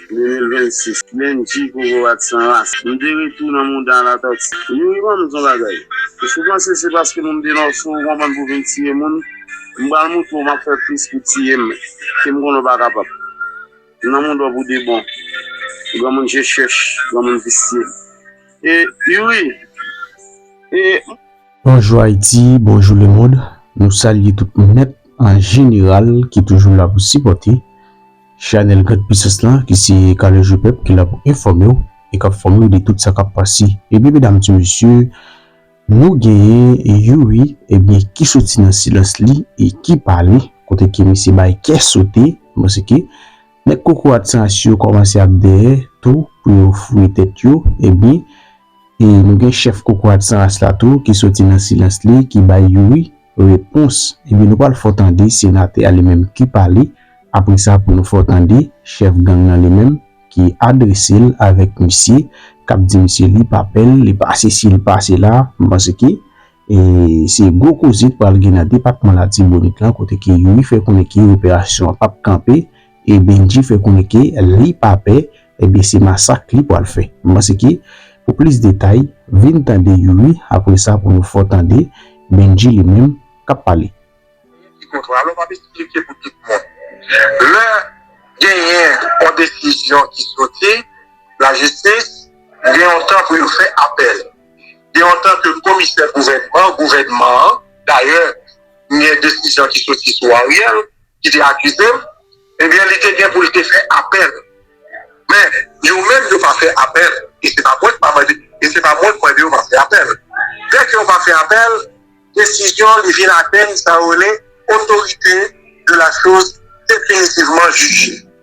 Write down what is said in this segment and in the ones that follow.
2026 Bendji kokorat t san ras Nou de retou nan mouda Latòti Youri banm di yon bagay Èske w panse se paske moun de nò cho ou konprann pou vin tiye moun M pral moutre w map fè plis pou tiye m ke m konnen w pa kapab M nan mouda w pou de bon Granmoun je chèch Granmoun visye E Youri E Bonjou Ayiti, bonjou lemond, nou salye tout moun nèt an jeneral ki toujou la pou sipòte chanèl Grande Puissance lan ki se Kale Je Pèp ki la pou enfòme w e k ap fòme w de tout sa k ap pase. Ebyen medam ti mesye, nou genyen Youri ebyen ki soti nan silans li e ki pale kote ke misye bay kè sote paske nèg kokorat san as yo kòmanse ap dèyè tou pou yo fouye tèt yo ebyen E nou gen chèf kokorat san ras la tou ki soti nan silans li ki bay Youri repons ebyen nou pral fè w tande senatè a li menm ki pale apre sa pou nou fè w tande chèf gang lan li menm ki adrese l avèk misye k ap di misye li pa pè l li pa sesi li pa sela m panse ke e se gwo koze k pral gen nan depatman latibonit lan kote ke Youri fè konnen ke operasyon an p ap kanpe E Bendji fè konnen ke li pa pè, ebyen se masak li pwal fè. M panse ke pou plis detay, vin tande Youri apre sa pou nou fò tande Bendji li menm kap pale. Genyen ki kontra, alò map esplike pou tout moun. Lè genyen yon desizyon ki soti lajistis, gen yon tan pou yo fè apèl. Gen yon tan ke komisè gouvènman, gouvènman an, dayè gen desizyon ki soti sou Ariel, ki te akize m, ebyen li te gen pou l te fè apèl. Men, yo menm yo pa fè apèl, e se pa mwen k mande, e se pa mwen k mande yo pa fè apèl. Lè ke yo pa fè apèl, desizyon li vin atenn sa yo rele otorite de la choz definitivman jije.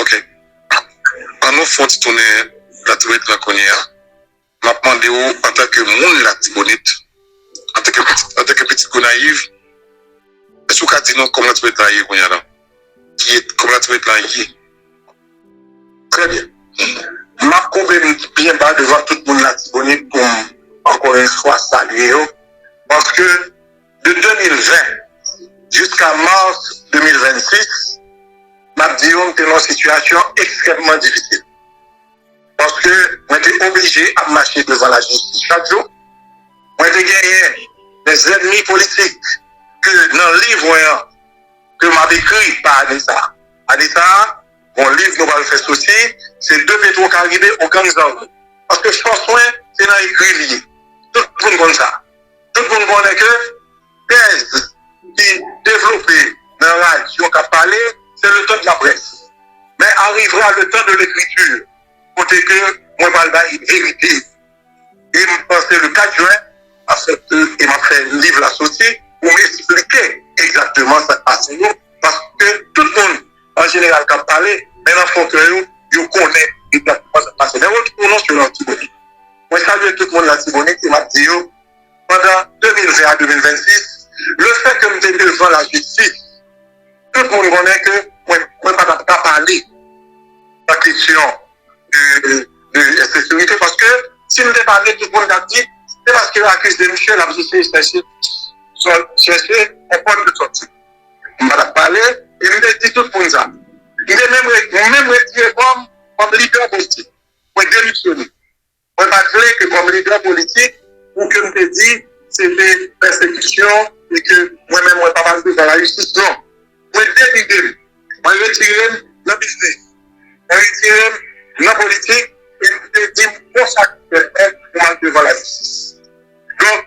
Ok an nou fon ti tounen latibonit lan kounye a map mande ou antanke moun latibonit antanke pitit gonayiv èske ou ka di nou kòman latibonit lan ye kounye a la kòman latibonit lan ye trè byen map koube m byen ba devan tout moun latibonit poum ankò yon fwa salye yo paske. de 2020 jiska mars 2026, m ap di yo m te nan yon sitiyasyon ekstrèmman difisil. Paske mwen te oblije ap mache devan lajistis chak jou. Mwen te genyen de zènmi politik ke nan liv mwen an ke m ap ekri pa ane sa a. Ane sa a, gon liv nou pral fè soti, se de Petwokaribe o gang zam. Paske fòs mwen se nan ekri li ye. Tout moun konn sa. Tout moun konnen ke tèz ki devlope nan radyo k ap pale se le tan de la près men arrivera le tan de l'écriture kote ke mwen pral bay verite e m panse le 4 jen e m ap fè liv la soti pou m esplike egzakteman sa k pase yo paske tout moun an jeneral k ap pale, men nan fon kè yo, yo konnen egzakteman sa k pase. Lè Rocky pwononse yo nan Latibonit, mwen salye tout moun Latibonit e m ap di yo, pandan 2020 a 2026, lefètke m te devan lajistis, tout moun konnen ke mwen pa t ap ka pale nan kesyon de ensekirite, paske si m te pale, tout moun t ap di, se paske yo akize misye, l ap eseye chèche konprann kote l soti. M pa t ap pale, e m te di tout moun sa. M te menm retire kò m kòm lidè politik. Mwen demisyone. Mwen pa t vle ke kòm lidè politik pou ke m te di se te pèsekisyon e ke mwen menm mwen pa pase devan lajistis. Non. Mwen delide m. Mwen retire m nan biznis. Mwen retire m nan politik e m te di m konsakre tèt mwen pou m al devan lajistis. Donk.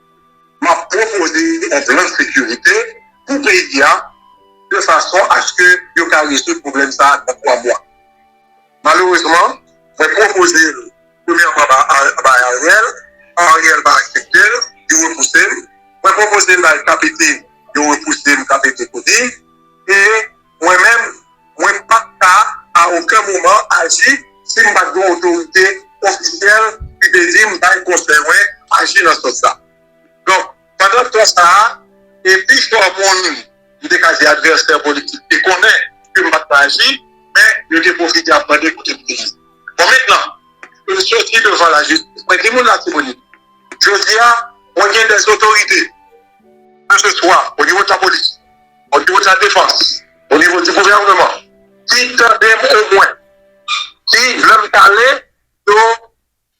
Map pwopoze yon plan sekirite pou peyi a de fason aske yo ka rezoud pwoblèm sa nan 3 mwa. Malerezman, mwen pwopoze l premyèman bay Ariel, Ariel pa aksepte l, li repouse m. Mwen pwopoze l bay KPT, yo repouse m, KPT tou di. E Mwen menm, mwen pa t ka a oken moman aji si m pa t gen yon otorite ofisyèl ki te di m bay konsèy mwen aji nan sans sa. Donk, pandan tan sa a, e pi fò moun, m te ka di advèsè politik, te konnen ke m pa t ka aji, men yo te pwofite ap mande kote m te ye. Bon, mentnan ke m soti devan lajistis, mwen di moun Latibonit, jodi a, mwen gen dèzotorite, keseswa onivo de lapolis, o nivo de la defans, o nivo di gouvèneman, ki tande m omwen, ki lè m pale yo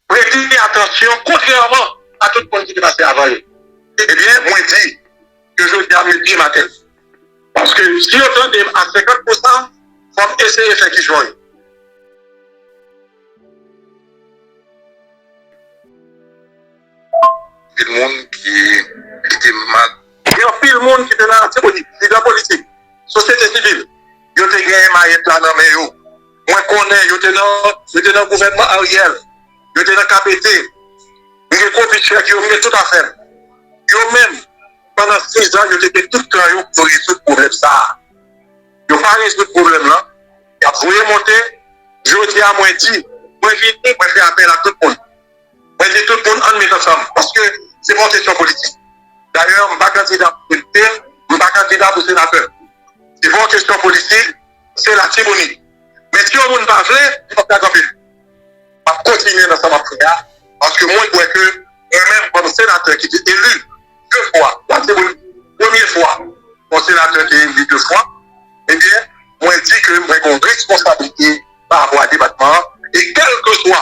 prete m atansyon kontrèman a tout moun ki te pase avan yo. Ebyen mwen di ke jodi a m met pye m atè. Paske si yo tande m a 50 pou san, fò m eseye fè ki jwenn. Anpil moun ki li te mak. Gen anpil moun ki te nan Latibonit, lidè politik, sosyete sivil, yo te gen mayèt la nan men yo. Mwen konnen yo te nan gouvènman Ariel, yo te nan KPT. M gen kopi chèk yo, m gen tout afè m. Yo menm, pandan sizan, yo te gen tout tan yo pou yo rezoud pwoblèm sa a. Yo pa rezoud pwoblèm lan, y ap voye monte. Jodi a mwen di, mwen vini, mwen fè apèl a tout moun. Mwen di tout moun ann met ansanm paske se pa yon kesyon politik. Dayè m pa kandida pou depite, m pa kandida pou senatè. Se pa yon kesyon politik, se latibonit. Men si yon moun pa vle, li pap ka kanpe l. M ap kontinye nan sa m ap fè a paske mwen kwè ke mwen menm kòm senatè ki te eli de fwa latibonit, premye fwa yon senatè te eli de fwa, ebyen mwen di ke mwen gen yon responsablite parapò a depatman an e kèlkeswa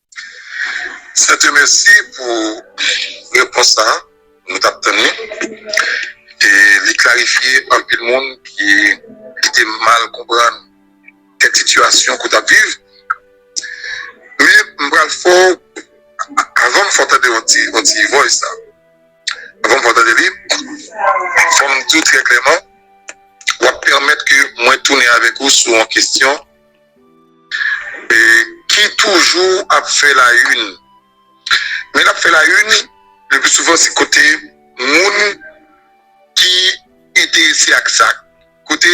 Sèten mèsi pou repons sa nou tap tann li e li klarifye anpil moun ki te mal konprann kèk sitiyasyon ke w tap viv men m pral fè w avan m fè w tande yon ti yon ti voice sa avan m fè w tande li fò m di w trè klèman wap pèmèt ke mwen tounen avèk ou sou yon kesyon. ki toujou ap fè la yn men lap fè la yn le plus souvent se kote moun ki enterese ak sa kote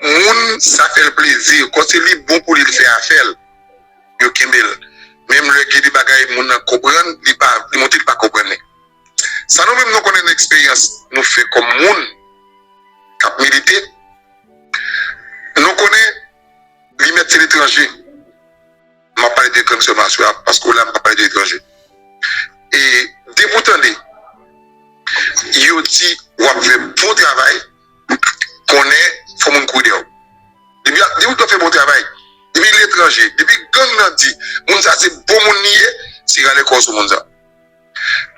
moun sa fèl plezi kon se li bon pou li l fè afèl yo kenbel menm lè gen de bagay moun nan konprann li pa li montre li pa konprann li. Sa nou menm nou konnen nan eksperyans nou fè kòm moun k ap milite, nou konnen li mèt se letranje. M ap pale de grann sè m aswè a paske w la m pa pale de etranje. E depi w tande yo di w ap fè bon travay, konnen fò moun kouri dèyè w. Depi yo di w ap fè bon travay, depi letranje, depi gang nan di moun sa se bon moun li ye, se rale kò w sou moun sa.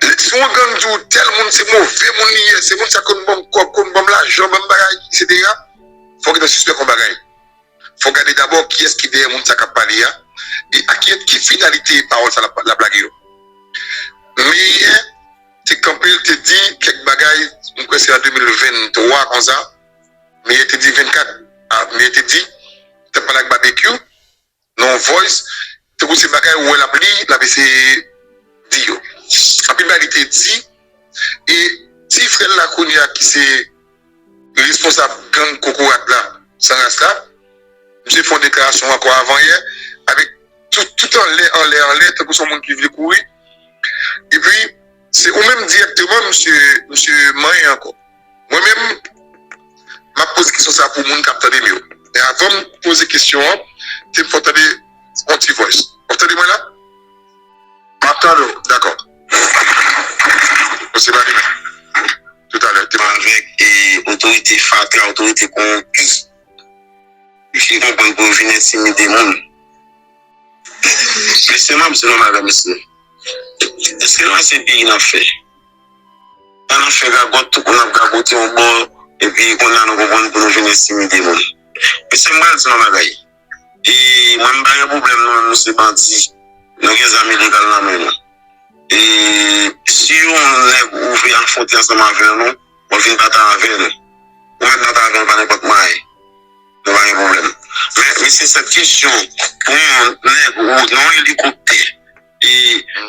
Li si yon gang di ou tèl moun se move moun li ye, se moun sa konn banm kòb, konn banm lajan, banm bagay eksetera, fòk li ta sispèk yon bagay. Fòk gade dabò kiyès ki dèyè moun sa k ap pale a e ak kiyès, ki finalite pawòl sa l ap l ap lage yo. Meyè te kanpe l te di kèk bagay, m kwè se an 2023 konsa, Meyè te di 24 a, Meyè te di li t ap pale ak Babekyou. nan yon voice tankou se bagay ou wè lap li lap eseye di yo anpil bagay li te di e ti frèl la kounye a ki se responsab gang kokorat la san ras la misye fè yon deklarasyon ankò avan yè avèk tout anlè anlè anlè tankou son moun ki vle kouri epi Se ou menm dirèkteman msye msye manyen ankò. Mwen menm map poze kesyon sa pou moun kap tandem yo. Men avanm poze kesyon an tem fè w tande on ti voice. Wap tande mwen la? Map tande w, dakò. Bon se pa li menm. Toutalè te pale avèk e otorite fatra, otorite kowonpi. Li fin konprann pou yo fin entimide moun. Mesye map di nou bagay mesye eske nou wè se peyi nap fè an nap fè gagòt tout moun ap gagote yon bò epi kounya nou konprann pou nou vin entimide moun mesye m pral di nou yon bagay e mwen m pa gen problèm nou menm nou se bandi nou gen zam ilegal nan men nou e si yon nèg ou vle afwonte ansanm avè nou. Mwen vin pata avèl. Ou mèt pata avèl pa nenpòt may. Nou pa gen pwoblèm. Men mesye sèt kesyon pou yon nèg ou nan elikoptè e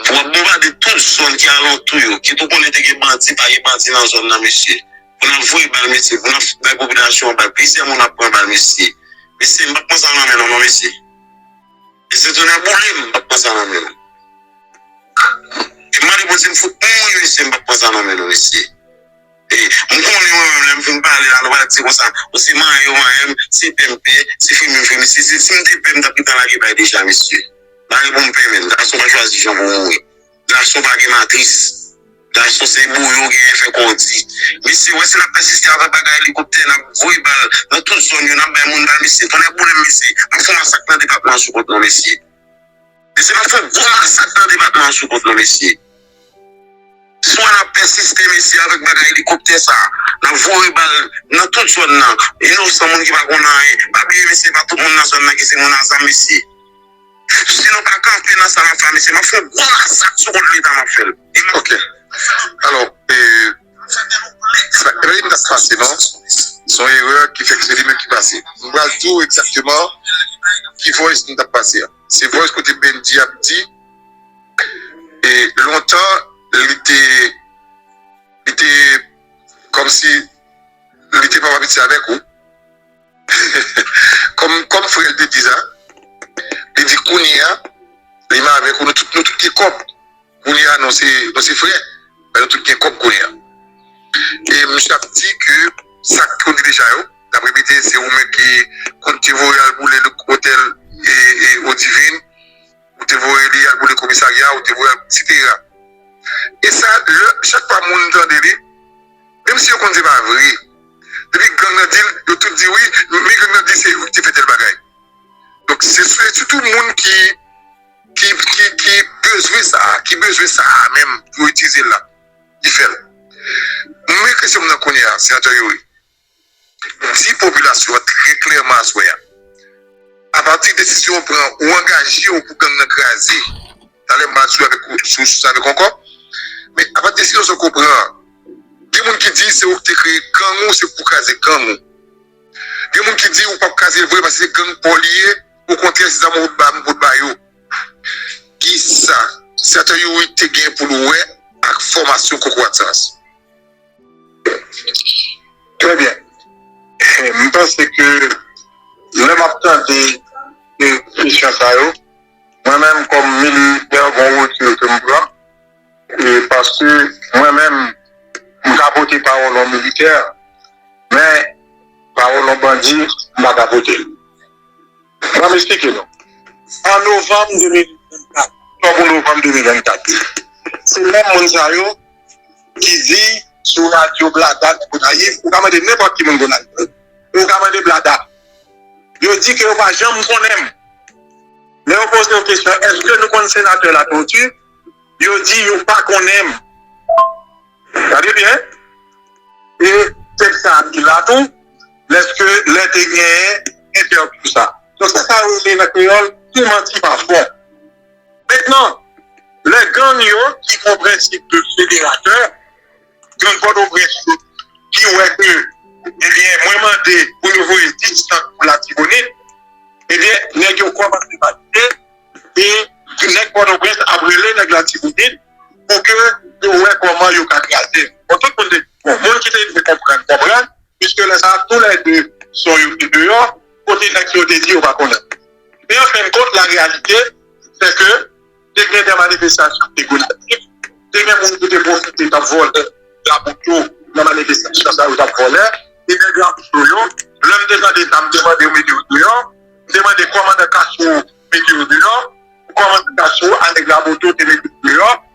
pou wap bonbade tout zòn ki alantou yo kit ou konnen te gen bandi pa gen bandi nan zòn nan mesye. Pou nap voye bal mesye pou nap bay popilasyon an bal plizyè moun ap pran bal mesye. Mesye m pap pran sa nan men nou non mesye. Mesye tonè boule m pat pran sa nan men nou e mande bondye m fout mouri mesye m pat pran sa nan men nou mesye e m konnen mwen menm lèm fin pale la nou va di konsa bon se manyen yo manyen m se pè m pè se fremi m fremi si m te pè m tap gentan lage bay deja mesye mare pou m pè menm gason pa chwazi jan pou mouri. Gason pa gen matris. Gason se boyo genyen fè kò w di. Mesye wè si nap pèsiste avèk bagay elikoptè nap voye bal nan tout zòn yo nap bay moun bal mesye tonnè boulem mesye ap fon masak nan depatman an sou kont nou mesye mesye nap fon gwo masak nan depatman an sou kont nou mesye swa nap pèsiste mesye avèk bagay elikoptè sa nap voye bal nan tout zòn nan inosan moun ki pa konn anyen pa bliye mesye pa tout moun nan zòn nan ki se moun a zam mesye. Si nou pa kanpe nan sa nap fè a mesye map fè yon gwo masak sou kont leta map fèl. Ok alò e sa epa li tap pase non son erè ki fèk se li menm ki pase m pral diw egzakteman ki voice nou tap pase a se voice kote Bndi ap di e lontan li te li te kòmsi li te pap abitye avèk ou. Kòm kòm frè l te di sa, li di kounye a li m avèk ou nou tout nou tout gen kòb kounye a nou se nou se frè men nou tout gen kòb kounye a e misye ap di ke sa k kondi deja yo l ap repete se ou menm ki konn te voye yo al boule otèl e e odivin. ou te voye li al boule komisarya, ou te voye al cetera. E sa lè chak fwa moun tande li, menm si yo konn se pa vre, depi gang nan di l, yo tout di wi, men gang nan di se yo ki te fè tèl bagay. Donk se sitou moun ki ki bezwen sa, ki bezwen sa a menm pou yo itilize l la ki fè l. Mwen kesyon m nan kounye a, Senatè Youri. di popilasyon an trè klèman aswè a, apati desizyon ou pran ou angaje ou pou gang nan kraze, talè m pral sou avèk ou sou sa avèk ou ankò, men apati desizyon sa ke w pran an, gen moun ki di se ou ki te kreye gang ou se pou kraze gang ou, gen moun ki di ou pap kraze l vre paske se gang pa w li ye, okontrè se zam ou ba m pou w t ba yo. Kisa senatè Youri te gen pou l wè ak fòmasyon kokorat sans? Trè byen. M panse ke lè m ap tande kesyon sa yo, mwen menm kòm militè gon retire ke m pran paske mwen menm m ka pote pawòl yon militè men pawòl yon bandi m pa ka pote l. Ba m esplike nou. An novanm 2024, oktòb ou novanm 2024, se menm moun sa yo ki di sou radyo Blada nan Gonayiv, ou ka mande nenpòt ki moun Gonayiv, ou ka mande Blada, yo di ke yo pa janm konnen m. Lè yo poze yo kesyon, èske nou konn Senatè Latortue, yo di yo pa konnen m. Gade byen, e tèks sa a ki la tou. Lèske lè te genyen entèvyou sa. Donk se sa yo rele nan kreyòl tou manti pa fon. Mentnan, lè gang yo ki pran prensip de federatè, gang Pòtoprens yo ki wè ke ebyen mwen mande pou yo voye 10 tank pou Latibonit, ebyen nèg yo kòmanse panike e nèg Pòtoprens ap rele nèg Latibonit pou ke yo wè kòman yo ka kraze. Bon, tout moun te, bon, moun ki te vle konprann konprann. Piske lè sa a, tou lè de son yo te deyò, kote nèg sa yo te di yo pa konnen. Men an fen kont, la reyalite, se ke te gen de manifestasyon ki te gonayiv, te gen moun ki te pwofite t ap vòlè labout yo nan manifestasyon sa yo t ap vòlè. E nèg Rameau yo, lè m te tande sa, m te mande yo mete yo deyò. M te mande kòmandan Castro mete yo deyò. Kòmandan Castro a nèg Raboto te mete yo deyò.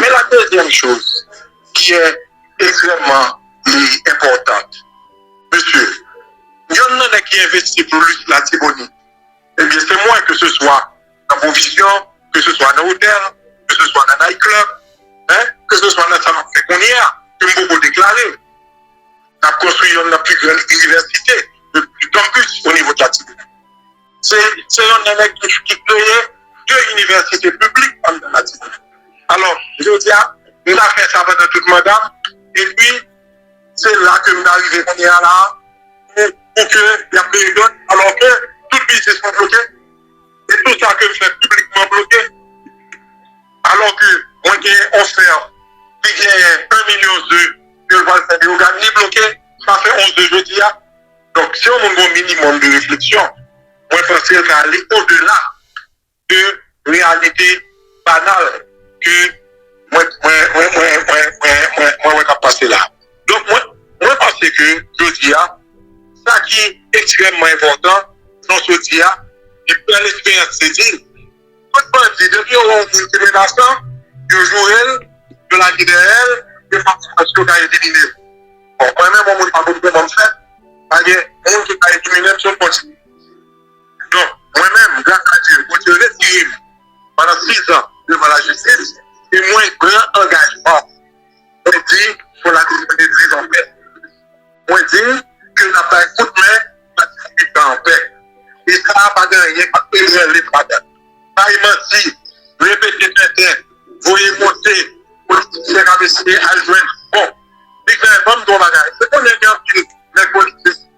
Men la dezyèm choz ki è ekstrèmman li enpòtant. Mesye, yonn nan nèg ki envesti plis Latibonit, ebyen se mwen ke se swa nan pwovizyon, ke se swa nan otèl, ke se swa nan night club, hein, ke se swa nan sa map fè kounye a, ke m poko deklare. Nap konstwi yonn nan pi grann inivèsite, yon campus o nivo de Latibonit. Se yon nènè ki kreye 2 inivèsite piblik an Martinique. Alò, jodi a, m ta fè sa pandan tout manda m, epi se la ke m ta rive kounye a la a, pou ke y ap kreye dòt, alò ke tout biznis mwen bloke, e tout sa ke m fè piblikman bloke. Alò ke mwen gen yon fè ki gen 1 milyon ze ke l pral fè Leyogàn, li bloke, sa fè 11 ze jodi a. Donk si yon moun gen yon minimòm de refleksyon, mwen panse l ka ale odela de reyalite banal ke mwen wè k ap pase la. Donk mwen panse ke jodi a, sa ki ekstrèmman enpòtan, jan w sot di a, li pran esperyans se di, Tout bandi depi yo wè yon moun ki menasan yo jourel yo lage dèyèl yo pa pran chans yo ka eliminel bon mwen menm yon moun pa konn kòmanm fè pa gen moun ki ka eliminel sof bandi donk mwen menm gras a Dye bondye retire'm pandan 6 ans devan lajistis e mwen pran angajman. Mwen di pou Latibonit viv anpè. Mwen di ke n ap bay kout men Latibonit la anpè. E sa a pa gen anyen k ap ebranle m ladan. Bay manti, repete tenten, voye monte politisyen k ap eseye al jwenn bon. Bigman, ban m di w yon bagay. Ou konnen gen anpil nèg politik.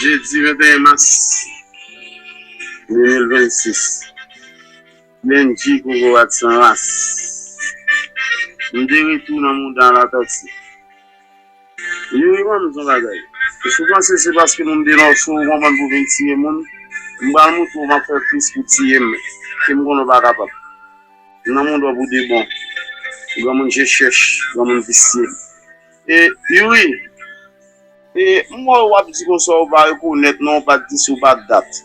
Jedi 21 mas 2026 Bendjy Kokorat San Ras M de retou nan mouda Latòti Youri banm di yon bagay Si w panse se paske moun de Nò cho ou konprann pou w vin tiye moun M pral moutre w m ap fè plis pou w tiye m ke m konnen w pa kapab M nan mond ou pou de bon. Granmoun je chèch, granmoun visye. E Youri! E m wè w ap di konsa ou pa rekonèt non ou pa t di si w pa t dat.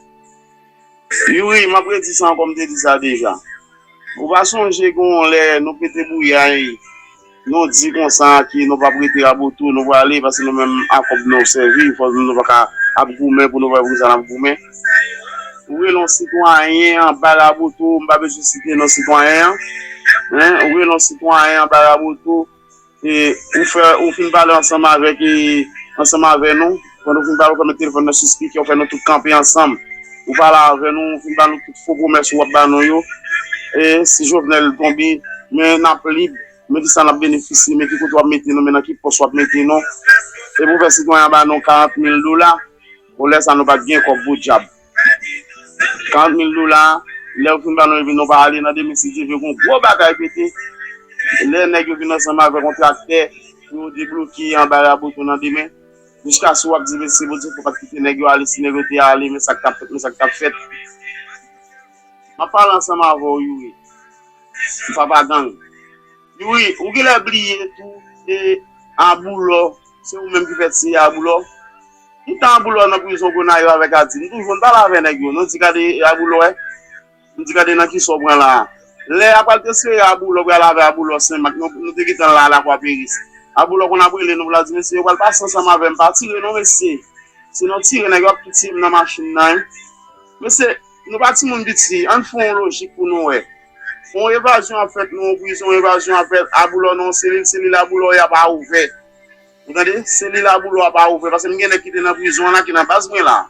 Youri, m ap redi sa ankò m te di sa deja. Ou pa sonje gen yon lè nou pete bouyay. Nou di konsa ke nou pap rete Raboto, nou prale paske nou menm a kòb nou sèvi, nou pa ka ap goumen pou nou pa wè poukisa nap goumen. Ou rele yon sitwayen anba Raboto, m pa bezwen site non sitwayen an, men ou rele yon sitwayen anba Raboto, ou fin pale ansanm avèk, ansanm avè nou. Pandan ou fin pale, ou fè met telefòn nan sou spikè, ou fè nou tout kanpe ansanm. Ou pale avè nou, ou fin ba nou tout fo pwomès ou ap ba nou yo. E si Jovenel tonbe, men n ap lib, men ki sa n ap benefisye, men ki kote w ap mete nou, men nan ki pòs w ap mete nou. Epi ou fè sitwayen an ba nou 40 mil dola. Bon, lè sa nou pa t gen kòb podyab. 40 mil dola, lè ou fin ba nou epi nou pa ale, nan demen si Dye vle gen yon gwo batay pete. Lè nèg yo vin ansanm avèk yon traktè pou yo debloke anba Raboto nan demen. Jiska sou wap di mesi bondye fok pat kite neg yo ale si neg yo te ale men sak tap fet men sak tap fet map pale ansanm avèw youri ou papa gang youri ou genlè bliye tou se aboulò se ou menm ki fè tiye aboulò tout tan aboulò nan prizon gonayiv avèk adi nou toujou nou pale avè neg yo nou di gade aboulò wè. M di gade nan kisa w pran la a. Lè a pral transfere Aboulò pral avè Aboulò Senmak nou te gentan la a Lakwa Peris. Aboulò konn ap rele nou pou l ap di mesye yo pral pase ansanm avè m pa tire non mesye. Sinon tire nèg yo ap tou tiye m nan machin nan wi. Mesye nou pa timoun piti ann fè yon lojik pou nou wè. Yon evazyon ap fèt nan yon prizon evazyon ap fèt Aboulò nan yon selil selil Aboulò y apa ouvè. Ou tande selil Aboulò apa ouvè paske m gen nèg ki te nan prizon an la ki nan baz mwen la a.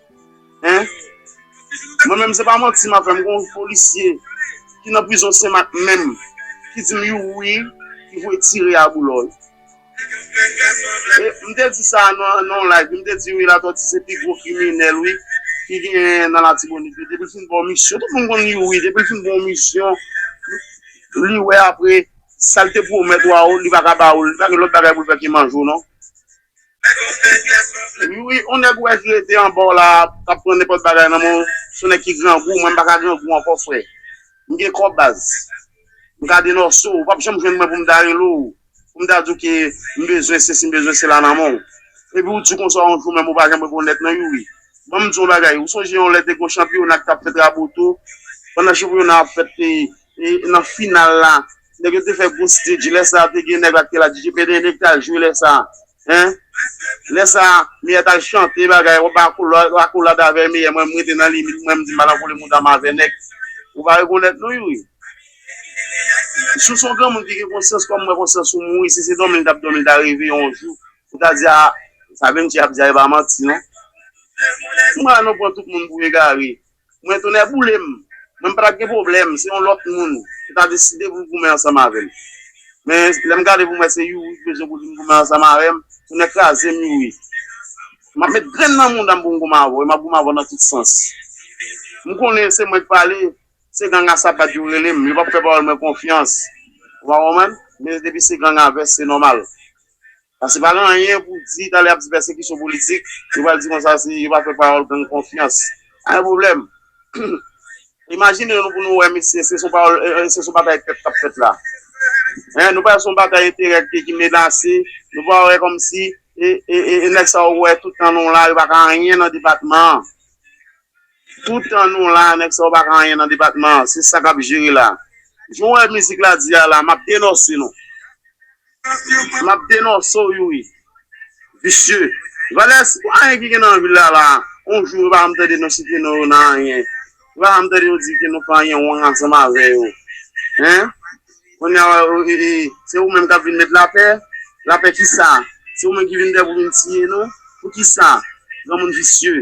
Hein? Mwen menm se pa manti map fè, m gon polisye ki nan prizon senmak menm ki dim you wi ki voye tire a boulò wi. E m te di sa nan yon live wi, m te di wi Latòti se pi gwo kriminèl wi ki genyen nan Latibonit wi, depi l fin ba w misyon, tout moun konn you wi, depi l fin ba w misyon li wè apre sa l te pwomèt ou a li pa ka ba ou l, li pa gen lòt bagay pou l fè ke manje w non. Wi wi on nèg wè ki rete anbaw la kap pran nenpòt bagay nan menw son nèg ki grangou mwen m paka grangou ankò frè m gen kò baz m ka denòse w ou pap janm jwenn mwen poum ta rele w poum ta diw ke m bezwen sesi m bezwen sela nan menw epi ou di konsa yon jou menm ou pa janm rekonèt mwen wi wi banm diw yon bagay ou sonje yon lè te gen yon chanpyona ki tap fèt raboto pandan chanpyona ap fèt nan final la. Nèg yo te fè gwo stage lè sa te gen nèg la te la DJ PD nèg tal jwe lè sa hein lè sa meyè tal chante bagay wap bay akolad avè meyè mwen m rete nan limit mwen m di m pa nan vole moudam avè nèg ou pa rekonèt nou ui sou son granmoun ki gen konsyans kòm mwen konsyans ou mouri si se domi l tap domi l ta reve yon jou ou ta di a sa Benchie ap di a e pa manti non nou pa la nou pran tout moun pou egare. Mwen tonnè boule m, mwen m pa t ap gen pwoblèm, se yon lòt moun ki ta deside pou l goumen ansanm avè m. Men, lè m gade pou m wè se Youri ki bezwen pou l vin goumen ansanm avè m, tonnè kraze m Youri. M ap met grenn nan mouda m pou m goumen avè w e m ap goumen avè w nan tout sans. M konnen se mwen k pale, se ganga sapat yo rele m, yo pa p fè pawòl mwen konfyans. Ou pa konprann? Men depi se ganga vès, se nòmal. Pase pa gen anyen pou di talè yap di pèsekisyon politik yo pral di konsa si yo pa fè pawòl gang konfyans pa gen pwoblèm imajine nou pou nou wè mesye se son pawòl se son batay pèp kap fèt la hein nou pa wè se son batay enterè ki menase nou pa wè kòmsi e e e nèg sa yo wè tout tan nou la yo paka anyen nan depatman an. Toutan nou la nèg sa yo pa ka anyen nan depatman an se sa kap jere la jan w wè mizik la di a la map denòse nou map denòse w youri visye valè se pa anyen ki gen nan vil la la yon jou ou pa janm tande nou site non yo nan anyen ou pa janm tande yo di ke nou fè anyen wrong ansanm avè yo hein kounye a se ou menm kap vin met lapè lapè kisa se ou menm ki vin dèy pou vin tiye nou pou kisa granmoun visye.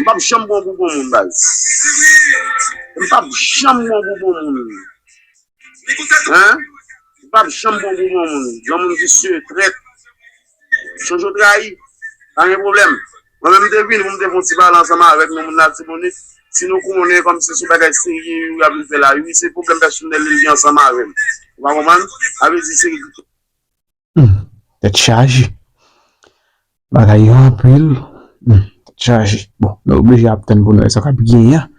Mpap janm bon pou bon moun baz. Mpap janm bon pou bon moun. Hein Mpap janm bon pou bon moun. Granmoun visye, trèt. Jojo trayi. Pa gen pwoblèm. Mwen menm mte vini pou mte fon ti pale ansanm avèk nou moun latibonit. Si nou konnen kòmsi se bagay serye yo ap vin fè la ui. Se pwoblèm pèsonèl li gen ansanm avèm. Ou pa konprann? Sa vle di se. Humm tèt chaje bagay yo anpil humm tèt chaje bon nou oblije ap tann pou nou wè sa kap genyen an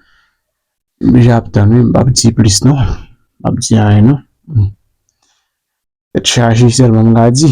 nou oblije ap tann wi m pap di plis non m pap di anyen non humm tèt chaje sèlman m ka di.